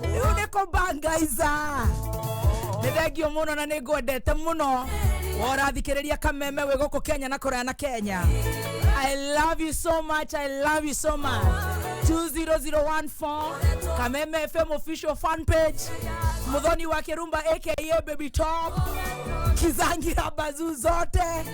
rĩu nĩ kũbangaiza nĩ thengio mũno na nĩ ngwendete mũno worathikĩrĩria kameme wĩ gũkũ kenya na kũraya na kenya i love you so much i love you so much 20014 kameme fm official fan page muthoni wa kirumba aka baby top kizangira bazuu zote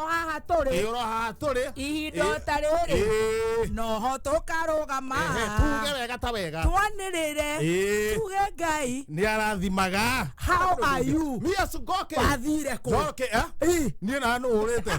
o haha tũrĩ ĩyoro haha tũrĩ ihinda Ĩ- ta rĩrĩ Ĩ. noho tũkarũgama Ehe, tuge wega ta wega twanĩrĩre Ĩ. tuge ngai nĩ arathimaga how are you miasu ngoke wathire kũ ngoke eh? Ĩ. niĩ na nũhũrĩte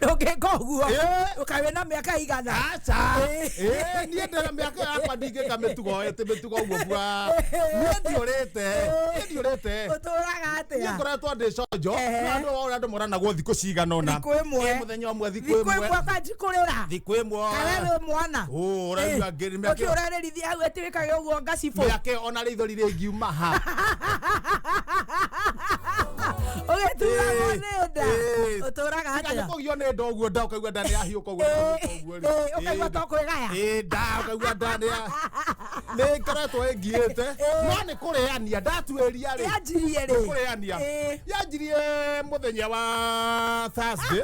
ndũngĩka ũguo Eh. ũkawe na mĩaka igana aca Eh, niä ndä ra mä aka yakwa ndingä ka mä tugo tä mä tugo guo bua niä ndiå rä te niä ndiå rä te ũtũraga niä atĩa ngoretwo ndä conjo Ehe. andå waå andå moranagwo thikå cigana ona Thikũ ĩmwe. må thenya å mwe thikå thikũ ä mwe ĩmwe kanjikũrĩra thikå ä mwe kawe wĩ mwana Ũ, ũraigua ngĩrĩ mĩaka- ũkĩ ũrarĩrithia hau ĩtĩ ĩkage ũguo ngacibũ mĩake ona rĩ ithori rĩngiuma ha ũgĩturagwo Ĩĩ, nĩ nda ĩĩ. ũtũraga Tiga atĩa nĩkũgio nĩ nda ũguo nda ũkaigua nda nĩyahiũka ũguo Ĩĩ, ũguo rĩ. ĩĩ, ũkaigua Ĩĩ, to kwĩgaya ĩĩ, nda ũkaigua nda nĩya- nĩngoretwo ĩngiĩte no nĩ kũrĩania ndatuĩria rĩ yanjirie rĩ kũrĩania Ĩĩ. yanjirie mũthenya wa Thursday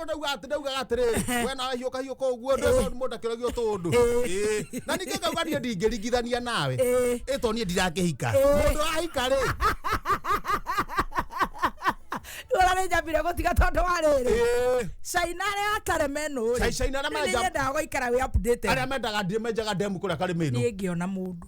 mũndũ ndauga atĩ ndaugaga atĩrĩ we nawe hiũka hiũka ũguo ndũĩ mũndũ akĩragio tũndũ Ĩĩ. na ningĩ ngauga niĩ ndingĩringithania nawe Ĩĩ. ĩto niĩ ndirakĩhika mũndũ ahika rĩ Ndũra nĩ njambire gũtiga tondũ wa rĩrĩ Ĩĩ. caina arĩa atare menũ Cai- Caina arĩa menja- mendaga gũikara wĩ updated arĩa mendaga ndĩ menjaga ndemu kũrĩa karĩ mĩnũ niĩ ngĩona mũndũ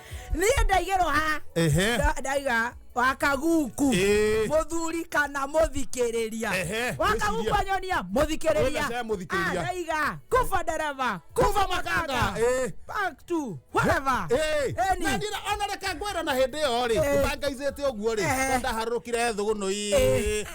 niä ndaigä rwo ha ehe nda- ndaiga wakaguku Ĩĩ. må thuri kana må thikä rä ria Ehe, wakaguku wĩciria. anyonia må thikä rä Wĩna cia mũthikĩrĩria. ria ndaiga kuba ndereba kuba makanga Eh. back to whatever Ĩĩ. Any. Na ndira- ona reke ngwĩre na hĩndĩ ĩyo rĩ Eh. ũtangaicĩte ũguo rĩ Eh. ndaharũrũkire thũgũnũ Ĩĩ.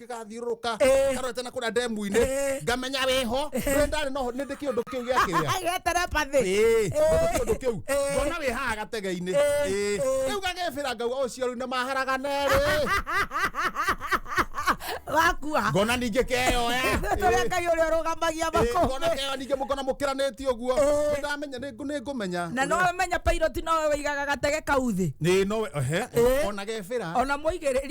gĩgathiũrũrũka Eh. karorete na kũrĩa ndemu-inĩ Eh. ngamenya wĩho rĩrĩa ndarĩ noho nĩ ndĩ kĩũndũ kĩu gĩa kĩrĩa Agĩa telepathy. Ĩĩ, ũndũ kĩũndũ kĩu Eh. ngona wĩ haha gatege-inĩ Eh. Ĩĩ. Eh. rĩu gagĩbĩra ngauga ũcio rĩu nĩ maharagana erĩ Wakua. ngona ningĩ keyoya Tũrĩa Ngai ũrĩa ũrũgamagia ngona makũmbĩ. keyoya ningĩ mũkona mũkĩranĩtie ũguo Eh. ndamenya nĩ ngũmenya Na no ũmenye pilot no we wĩigaga gatege kau thĩ. nĩ no ehe Eh. ona gebĩra Ona mũigĩrĩri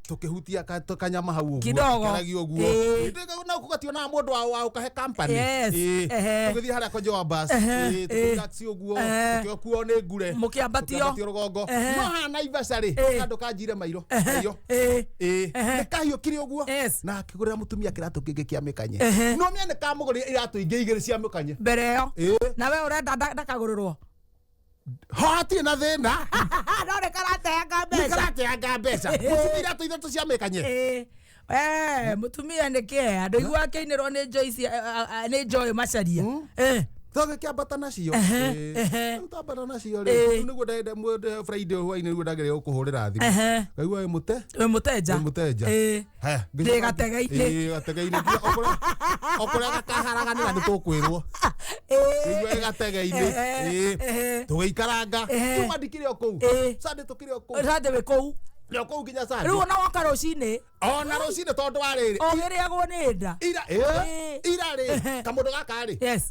tukihutia ka- to- kanyama hau Kidogo. ũguokeragi ũguo Ĩĩ. Hĩndĩ ĩyo na gũgationaga mũndũ wa- wa ũkahe company Yes. Ĩĩ. Ehe. tũgĩthiĩ harĩa kwa Joa bus Ehe. Ĩĩ, Ĩĩ. tũkĩrelax ũguo Ehe. tũkĩokuo nĩ ngure Mũkĩambatio. Tũkĩambatio rũgongo Ehe. no haha Naivasha rĩ Ĩĩ. handũ kanjire mairo mairo Eh, Ĩĩ. Ehe. nĩ kahiũ kĩrĩ ũguo Yes. na akĩgũrĩra mũtumia kĩratũ kĩngĩ kĩa mĩkanye Ehe. no nĩ nĩ kamũgũrĩra iratũ ingĩ igĩrĩ cia mĩkanye mbere ĩyo Ĩĩ. na we ũrenda nda- ndakagũrĩrwo ho hatirĩ na thĩna no nä karateanga nĩ mbeca karateanga mbeca mũtumia iratũ ithatũ cia mĩkanye Ĩ, eh, mũtumia nä kä andå igua akä inä rwo nä Joyce, eh, ah, ah, nä njoä macaria Eh, thoge kĩambata nacio Ehe, Ĩĩ. ehe. Rĩu twambata nacio Ĩĩ. rĩ nĩguo ndagenda mũndũ friday hwainĩ nĩguo ndagĩrĩire gũkũhũrĩra thimũ Ehe. ngaigua wĩ mũte wä må tenja Wĩ mũtenja. Ĩ. haya Ndĩ gategeinĩ. Ĩĩ, gategeinĩ Nginya ũkũrĩa- ũkũrĩa gakaharaganĩra nĩ tũkwĩrwo Ĩĩ. Ĩĩ, gategeinĩ Ehe, Ĩĩ. ehe. tũgĩikaranga Ehe. kuma ndikĩrĩ o kũu Ĩĩ. sande tũkĩrĩ o kũu Sande wĩ kũu Nĩ o kũu nginya sande rĩu ona woka rũcinĩ ona rũcinĩ tondũ wa rĩrĩ ũgĩrĩagwo nĩ nda ira Ĩĩ. ĩĩ, ira rĩ Ehe. kamũndũ gaka rĩ yes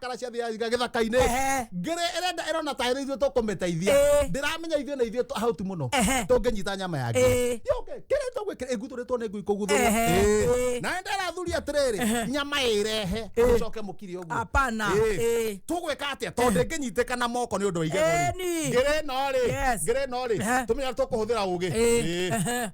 kara cia thia ciga githaka-inĩ Ehe. ngĩrĩ ĩrenda ĩrona ta ĩrĩ ithuĩ tũkũmĩteithia Ĩĩ. ndĩramenya ithuĩ na ithuĩ hauti mũno Ehe. tũngĩnyita nyama ya Ĩĩ. ngĩrĩ yũke kĩrĩa tũgwĩkĩra ĩgutũrĩtwo nĩ ngui kũguthũria Ehe. Ĩĩ. Ĩĩ. nawe ndarathuri atĩrĩrĩ nyama ĩrehe ũcoke mũkiri ũguo Hapana. Ĩĩ. Ĩĩ. tũgwĩka atĩa tondũ ndĩngĩnyitĩka na moko nĩ ũndũ wa igego Ĩĩ, ni. ngĩrĩ no rĩ Yes. ngĩrĩ no rĩ Ehe. tũmenya tũkũhũthĩra ũgĩ Ĩĩ. Ĩĩ. Ehe.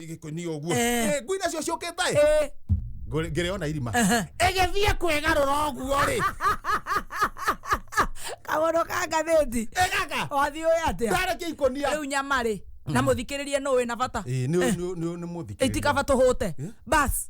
gĩkoni å guo Eh. ngui nacio ciå kä taä Ĩ, ngä rä ona irima aha. ĩgĩthiĩ kwĩgarũra ũguo rĩ kaũndũ ka ngathĩti ĩgaka wathiĩ ũĩ atĩa ndarä kä ikonia rĩu nyamarĩ na mũthikĩrĩrie nũ wĩ na bata nä må thikä itikaba tũhũte bas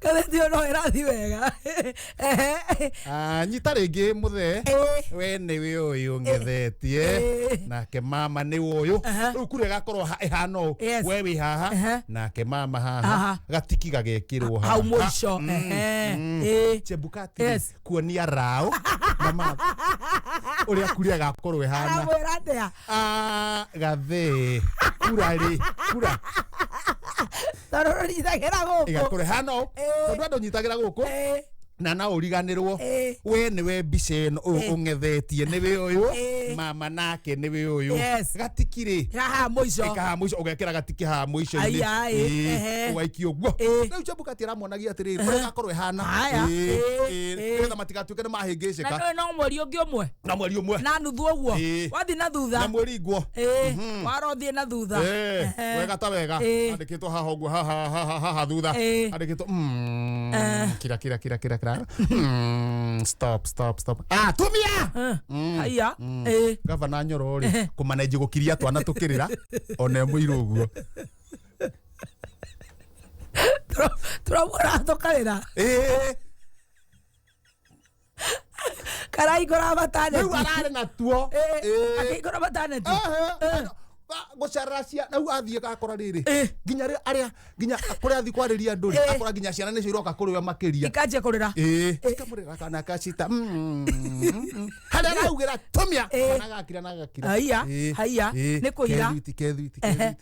katheti ono ĩrathi wega Ah, nyita rĩngĩ mũthee Ĩĩ. we nĩ wĩ ũyũ ng'ethetie Ĩĩ. nake mama nĩ ũyũ Aha. rĩu kura ĩgakorwo ha- ĩhana ũũ Yes. we wĩ Aha. haha nake mama Aha. haha gatiki gagekĩrwo haha. hau mũico Mm, Ehe. mm. Ĩĩ. chebukati Yes. kuonia raũ na mama ũrĩa kura ĩgakorwo ĩhana aramwĩra atĩa Ah, gathĩ kura rĩ kura tondå rå nyitagä ra gå kå ĩgakũre hano Ĩĩ. tondũ andũ nyitagĩra gũkũ na na ũriganĩrwo Ĩĩ. we nĩwe mbica ĩno ũyũ Ĩĩ. ũng'ethetie nĩwe ũyũ Ĩĩ. mama nake nĩwe ũyũ Yes. gatikirĩ haha må ico ikaha mũico ũgekĩra gatikĩ haha mũico-inĩ Ai, ai, Ĩĩ, ehe. ũgaikio guo Ĩĩ. rĩu chambukati aramuonagia atĩrĩrĩ ũrĩa gakorwo ĩhana Haya. Ĩĩ, Ĩĩ, ĩĩ. ĩĩ. nĩgetha matigatuĩke nä mahä ngä na cä ka nä no mweri å ngä å mwe na mweri umwe na nuthu å guo Ĩĩ. wathi na na thutha mweri ngwo Ĩĩ, warothiä na thutha Eh, Ehe. wega ta wega Eh. andikitwo haha uguo haha haha haha thutha Eh. andikitwo mm, Eh. kira kira kira kira kira Mm, stop stop stop ah tumia Eh, haiya Ĩĩ. gavana nyoro ri kumanenji gukiria twana tukirira ona imwe iru uguo tå ramuona tå karä ra Eh, karaikora mataneti rĩu ararĩ natuo Eh, Eh. akĩikora mataneti gũcarĩra ciana rĩu athiĩ gakora rĩrĩ Eh. nginya rĩ- arĩa nginya kũrĩa athiĩ kwarĩria andũ Eh. rĩ akora nginya ciana nĩcio iroka kũrĩ we makĩria ikanjia kũrĩra ĩĩ ikamũrĩra kana kacita harĩa araugĩra tumia Eh. kana gakira na gakira Haiya, Ĩĩ, haiya, ĩĩ, nĩ kũira. kethwiti, kethwiti, Ehe. kethwiti.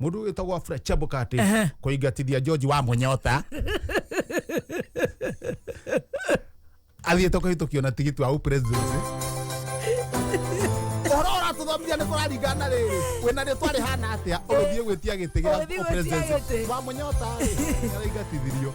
mundu witagwa Fred Chebukati Ehe. kuingatithia George wa munyota athiite kuhitukio na tigiti wa upresidency uhoro uratuthomithia ni kuraringana riri wina ri twari hana atia uguthie gwitia giti Ũgĩthiĩ gĩa gwĩtia upresidency gĩtĩ. wa munyota ri araingatithirio